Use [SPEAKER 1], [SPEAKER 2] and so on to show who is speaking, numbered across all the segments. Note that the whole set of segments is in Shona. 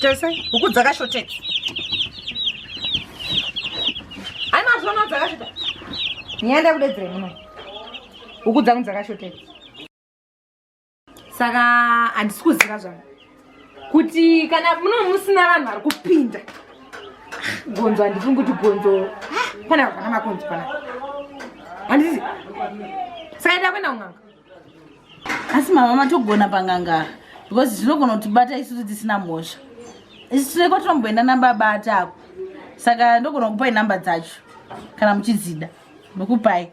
[SPEAKER 1] tese huku dzakashoteka hai mazvona dzakashota nyaya ndakudedzere muno huku dzangu dzakashoteka saka handisi kuziva zvangu kuti kana muno musina vanhu vari kupinda gonzo handifungi kuti gonzo pana vana makonzi pana handisi saka enda kuenda kun'anga
[SPEAKER 2] asi mama matogona pang'anga because zvinogona kutibata isusu tisina mhosva isu tine kwatinomboenda namba abata ako saka ndogona kupai namba dzacho kana muchidzida ndokupai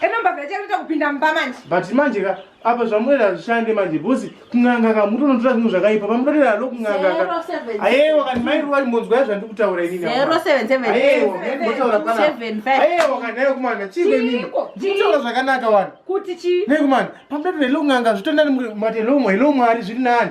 [SPEAKER 1] eno mbavha ichatoita kupinda mumba manje but manje ka
[SPEAKER 3] apa zvamunoita hazvishande manje bhosi kun'anga ka mutonotora zvinhu zvakaipa pamunotoita halo kun'anga ka ayewa kani mairuva imbonzwa yazvandiri kutaura iniayewaotaura
[SPEAKER 2] ayewa
[SPEAKER 3] kani ayo
[SPEAKER 2] kumana
[SPEAKER 3] chiiko inini nditaura zvakanaka wani kuti chii nekumana
[SPEAKER 1] pamutotoita
[SPEAKER 3] helo kun'anga zvitondani mati helo mwari zviri nani